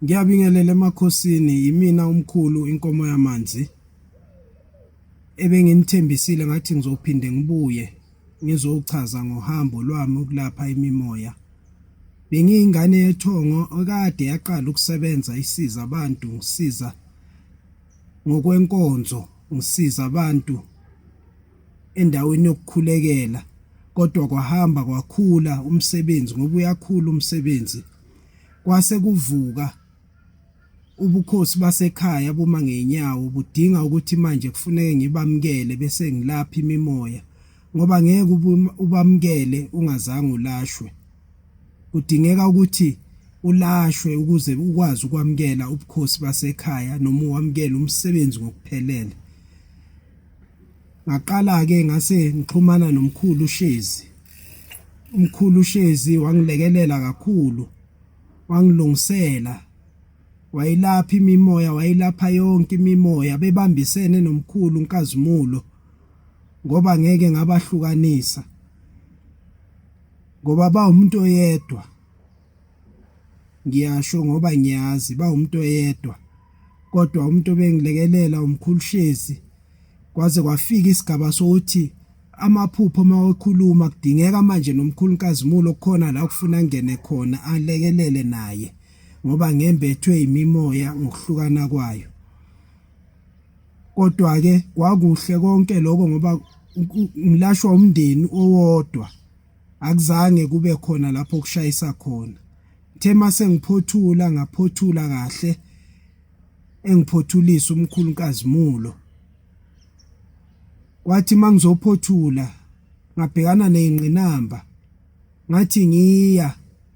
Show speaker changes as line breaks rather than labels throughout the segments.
Ngiyabingelela emakhosini yimina umkhulu inkomo yamanzi ebenginithembisile ngathi ngizophinde ngibuye ngizochaza ngohambo lwami ukulapha imimoya bengiyingane yethongo okade yaqala ukusebenza isiza abantu ngisiza ngokwenkonzo ngisiza abantu endaweni yokukhulekela kodwa kwahamba kwakhula umsebenzi ngoba uyakhula umsebenzi kwase kuvuka ubukhosi basekhaya buma ngenyawo budinga ukuthi manje kufuneke ngibamkele bese ngilapha imimoya ngoba ngeke ubamkele ungazange ulashwe kudingeka ukuthi ulashwe ukuze ukwazi ukwamkela ubukhosi basekhaya noma uwamkele umsebenzi ngokuphelele Ngaqala-ke ngase ngixhumana nomkhulu uShezi. Umkhulu uShezi wangilekelela kakhulu, wangilungisela, wayilapha imimoya, wayilapha yonke imimoya, bebambisene nomkhulu uNkazimulo ngoba ngeke ngabahlukanisa ngoba bawumuntu oyedwa ngiyasho ngoba ngiyazi bawumuntu oyedwa kodwa umuntu obengilekelela umkhulu Shezi kwaze kwafika isigaba sokuthi amaphupho mawakhuluma kudingeka manje nomkhulu Nkazimulo kukhona la kufuna ngene khona alekelele naye ngoba ngembethwe imimoya ngokuhlukana kwayo kodwa ke kwakuhle konke lokho ngoba ngilashwa umndeni owodwa akuzange kube khona lapho kushayisa khona Ngithe mase ngiphothula ngaphothula kahle engiphothulisa umkhulu uNkazimulo. Kwathi mangizophothula ngabhekana nezingqinamba ngathi ngiya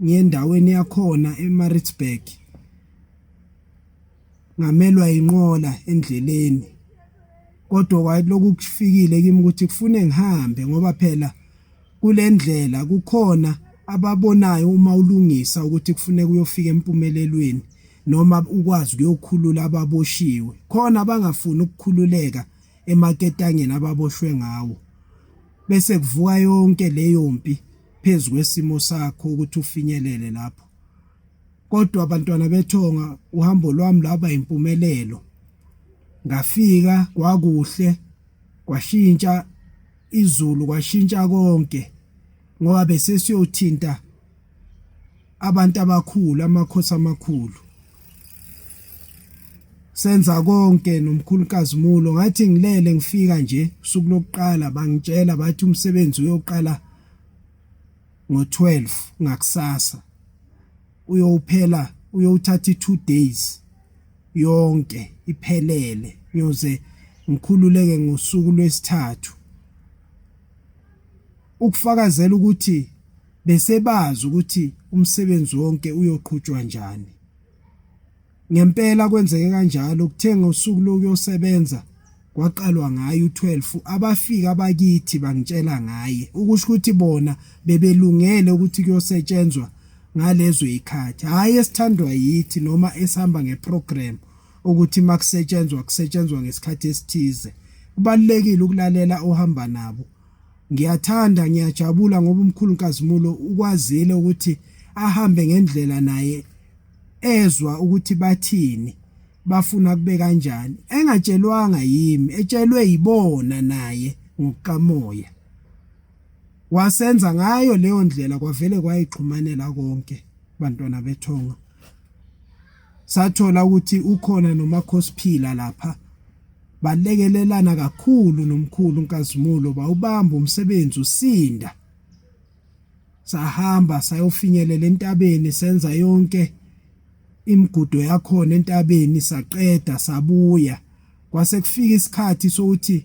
ngiyendaweni yakhona eMaritzburg ngamelwa inqola endleleni kodwa kwaloku kufikile kimi ukuthi kufune ngihambe ngoba phela kule ndlela kukhona ababonayo uma ulungisa ukuthi kufuneka uyofika empumelelweni noma ukwazi ukuyokhulula ababoshiwe khona abangafuni ukukhululeka emaketangeni ababoshwe ngawo bese kuvuka yonke leyo mpi phezu kwesimo sakho ukuthi ufinyelele lapho Kodwa bantwana bethonga uhambo lwami lwaba impumelelo. Ngafika kwakuhle kwashintsha izulu kwashintsha konke ngoba bese siyothinta abantu abakhulu amakhosi amakhulu senza konke nomkhulukazi mulo ngathi ngilele ngifika nje usuku lokuqala bangitshela bathi umsebenzi uyoqala ngo-12 ngakusasa uyowuphela uyowuthatha i-two days yonke iphelele ngiyoze ngikhululeke ngosuku lwesithathu ukufakazela ukuthi besebazi ukuthi umsebenzi wonke uyoqhutshwa njani Ngempela kwenzeke kanjalo kuthe ngosuku lokuyosebenza kwaqalwa ngaye u12 abafika abakithi bangitshela ngaye ukusho ukuthi bona bebelungele ukuthi kuyosetshenzwa ngalezo ikhathi hayi esithandwa yithi noma esihamba ngeprogram ukuthi makusetshenzwa kusetshenzwa ngesikhathi esithize kubalekile ukulalela ohamba nabo ngiyathanda ngiyajabula ngoba umkhulu kazimulo ukwazile ukuthi ahambe ngendlela naye ezwa ukuthi bathini bafuna kube kanjani engatshelwanga yimi etshelwe yibona naye ngokukamoya wasenza ngayo leyo ndlela kwavele kwayixhumanela konke bantwana bethonga sathola ukuthi ukhona nomakhosiphila lapha balekelelana kakhulu nomkhulu uNkazimulo bawubamba umsebenzi usinda sahamba sayofinyelela entabeni senza yonke imigudo yakhona entabeni saqeda sabuya kwase kufika isikhathi sokuthi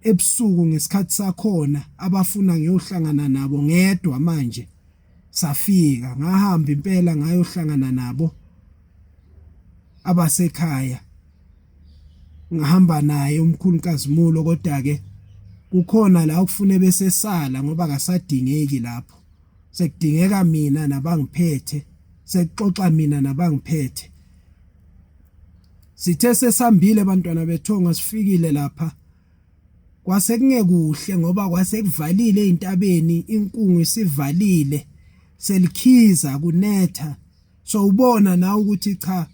ebusuku ngesikhathi sakhona abafuna ngiyohlangana nabo ngedwa manje safika ngahamba impela ngayohlangana nabo abasekhaya ngahamba naye umkhulu kazimulo kodwa ke kukhona la ukufune besesala ngoba akasadingeki lapho sekudingeka mina nabangiphethe sekuxoxa mina nabangiphethe sithe sesambile abantwana bethonga sifikile lapha kwase kungekuhle ngoba kwase kuvalile ezintabeni inkungu isivalile selikhiza kunetha so ubona nawe ukuthi cha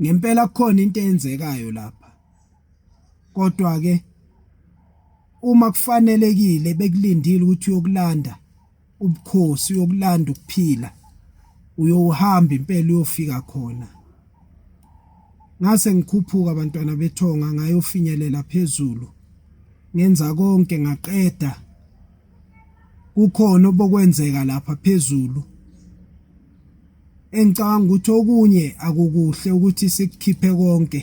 ngempela kukhona into eyenzekayo lapha kodwa ke uma kufanelekile bekulindile ukuthi uyokulanda ubukhosi uyokulanda ukuphila uyohamba impela uyofika khona ngase ngikhuphuka abantwana bethonga ngayofinyelela phezulu ngenza konke ngaqeda kukhona obokwenzeka lapha phezulu engicabanga ukuthi okunye akukuhle ukuthi sikukhiphe konke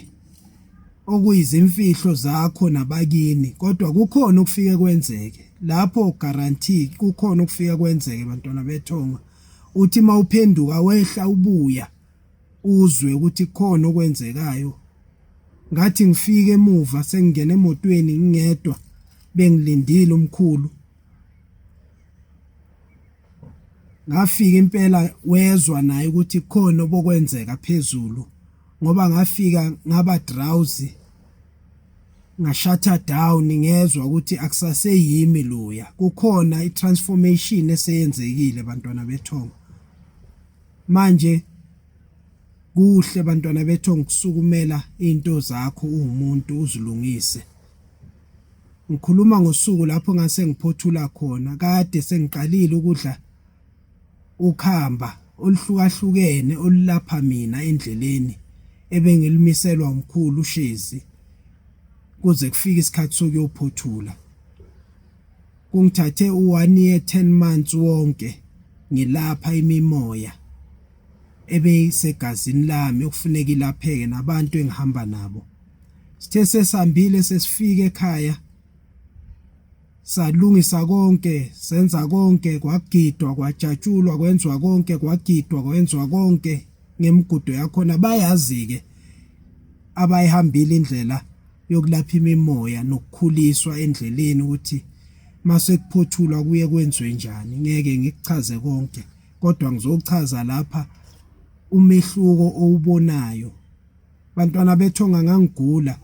okuyizimfihlo zakho nabakini kodwa kukhona okufike kwenzeke lapho guarantee kukhona okufike kwenzeke bantwana bethonga uthi mawuphenduka wehla ubuya uzwe ukuthi khona okwenzekayo ngathi ngifike emuva sengingena emotweni ngingedwa bengilindile umkhulu ngafika impela wezwa naye ukuthi khona obokwenzeka phezulu ngoba ngafika ngaba drowsy ngashatha down ngezwa ukuthi akusaseyimi loya kukhona itransformation eseyenzekile bantwana bethongo Manje kuhle bantwana bethu ngikusukumela into zakho uwumuntu uzilungise. Ngikhuluma ngosuku lapho ngase ngiphothula khona kade sengiqalile ukudla ukhamba oluhlukahlukene olulapha mina endleleni ebengilimiselwa umkhulu uShezi kuze kufike isikhathi sokuyophothula. Kungithathe u-one year 10 months wonke ngilapha imimoya ebeyisegazini lami okufuneka ilapheke nabantu engihamba nabo. Sithe sesambile sesifike ekhaya salungisa konke senza konke kwagidwa kwajatshulwa kwenzwa konke kwagidwa kwenzwa konke ngemigudu yakhona bayazi ke abayihambile indlela yokulapha imimoya nokukhuliswa endleleni ukuthi mase kuphothulwa kuye kwenziwe njani ngeke ngikuchaze konke kodwa ngizochaza lapha umehluko owubonayo bantwana bethonga ngangigula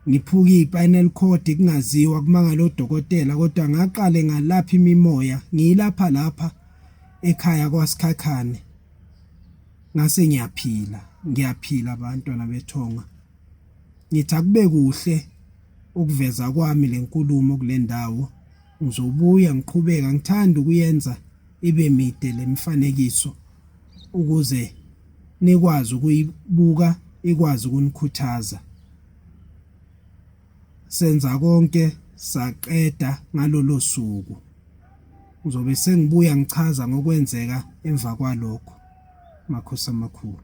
ngiphuka ispinal cord kungaziwa kumangala odokotela kodwa ngaqale ngalapha imimoya ngiyilapha lapha ekhaya kwaSikhakhane Ngase ngiyaphila, ngiyaphila bantwana bethonga. Ngithi akube kuhle ukuveza kwami lenkulumo kulendawo. Ngizobuya ngiqhubeka ngithanda ukuyenza ibe mide lemifanekiso ukuze nikwazi ukuyibuka ikwazi ukunikhuthaza. Senza konke saqeda ngalolo suku. Ngizobe sengibuya ngichaza ngokwenzeka emva kwalokho. Makhosi amakhulu.